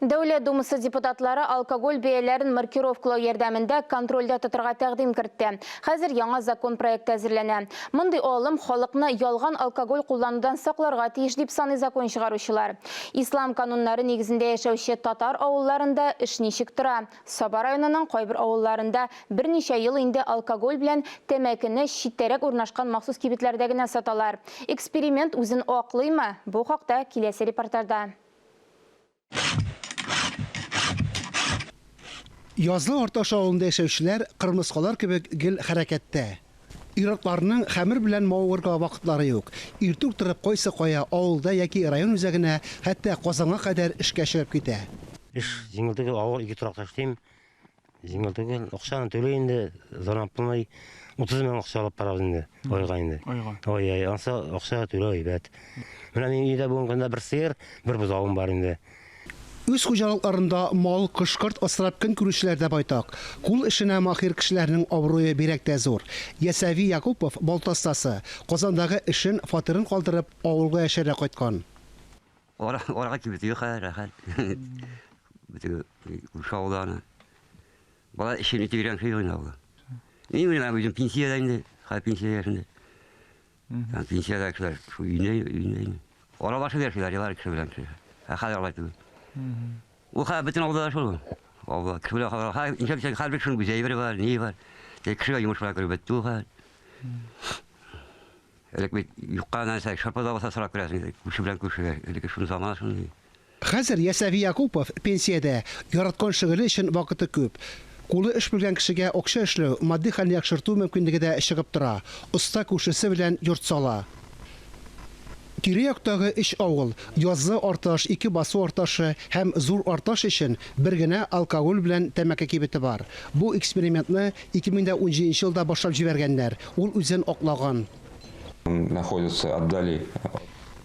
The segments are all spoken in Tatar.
Дәүләт Думасы депутатлары алкоголь бәяләрен маркировкалау ярдәмендә контрольдә тотырга тәкъдим кертте. Хәзер яңа закон проекты әзерләнә. Мондый алым халыкны ялган алкоголь кулланудан сакларга тиеш, дип саный закон чыгаручылар. Ислам кануннары нигезендә яшәүче татар авылларында эш ничек тора? Саба районының кайбер авылларында берничә ел инде алкоголь белән тәмәкене читтәрәк урнашкан махсус кибетләрдә генә саталар. Эксперимент үзен аклыймы? Бу хакта киләсе репортажда. Язлы Арташ авылында яшәүчеләр кырмыскалар кебек гел хәрәкәттә. Ир-атларның хәмер белән мавыгырга вакытлары юк. Иртүк торып кайсы кая, авылда яки район үзәгенә, хәтта Казанга кадәр эшкә чыгып китә. Эш җиңелдеге авыр, ике торакта эшлим. Җиңел түгел. Акчаны түле инде, зарплатный 30 мең акча алып барабыз инде, айга инде. Айга. Ой, ай, анса акча түле әйбәт. Менә мин өйдә бүгенге көндә бер сыер, бер бозавым бар инде. Үз хуҗалыкларында мал, кош-корт асрап көн күрүчеләр дә байтак. Кул эшенә маһир кешеләрнең абруе бигрәк тә зур. Ясәви Якупов, балта остасы, Казандагы эшен, фатирын калдырып, авылга яшәргә кайткан. Ара, арага кибет юк, рәхәт. Битеге ушауда аны. Бала эшен итегрән ши гына була. Ни менә үзем пенсиядә инде, ха пенсия яшендә. Һәм пенсиядә кешеләр шу өйне, өйне. Аралашып яшиләр, ялар кеше белән кеше. Ә хәзер алай түгел. Ул хәзер бөтен авылда да шул. Авылда кеше белән хәзер хәзер ничек дисәң, хәзер бит шуның үз әйбере бар, ни бар. Тик кешегә йомыш белән кереп бетте ул хәзер. Элек бит юкка нәрсә, шырпы да булса сорап керәсең иде, күрше белән күршегә. Элекке шундый замана шундый. Хәзер Ясәви Якупов пенсиядә, яраткан шөгыле өчен вакыты күп. Кулы эш белгән кешегә акча эшләү, матди хәлне яхшырту мөмкинлеге дә чыгып тора, оста күршесе белән йорт сала. Тирә-яктагы өч авыл, Яззы Арташ, Ике Басу Арташы һәм Зур Арташ өчен бер генә алкоголь белән тәмәке кибете бар. Бу экспериментны 2017 нче елда башлап җибәргәннәр, ул үзен аклаган. находятся отдали.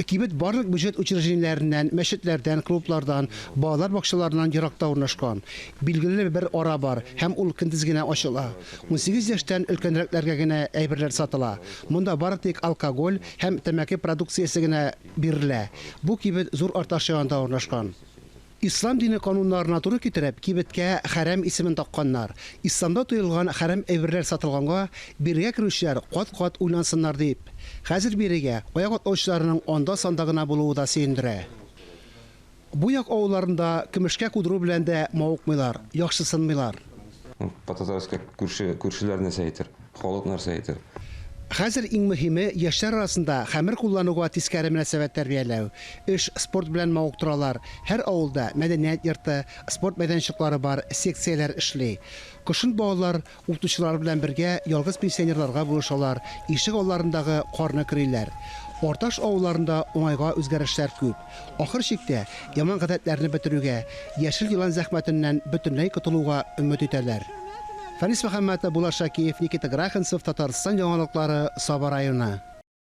Кибет барлык бюджет учреждениеләреннән, мәчетләрдән, клублардан, балалар бакчаларыннан еракта урнашкан. Билгеле бер ара бар һәм ул көндез генә ачыла. Унсигез яшьтән өлкәнрәкләргә генә әйберләр сатыла. Монда бары тик алкоголь һәм тәмәке продукциясе генә бирелә. Бу кибет Зур Арташ янында урнашкан. Ислам дине кануннарына туры китереп, кибеткә хәрәм исемен такканнар. Исламда тыелган хәрәм әйберләр сатылганга, бирегә керүчеләр кат-кат уйлансыннар дип. Хәзер бирегә аяк атлаучыларның анда-санда гына булуы да сөендерә. Бу як авылларында көмешкә кудыру белән дә мавыкмыйлар, яхшысынмыйлар. Пататарска күрше, күршеләр нәрсә әйтер, халык нәрсә әйтер? Хәзер иң мөһиме, яшьләр арасында хәмер куллануга тискәре мөнәсәбәт тәрбияләү. Эш, спорт белән мавыктыралар. Һәр авылда мәдәният йорты, спорт мәйданчыклары бар, секцияләр эшли. Кышын балалар Укытучылар белән бергә ялгыз пенсионерларга булышалар, ишек алларындагы карны көриләр. Орташ авылларында уңайга үзгәрешләр күп. Ахыр чиктә, яман гадәтләрне бетерүгә, яшел елан зәхмәтеннән бөтенләй котылуга өмет итәләр. Фәнис Мөхәммәтов, Булат Шакиев, Никита Грахенцев, Татарстан яңалыклары, Саба районы.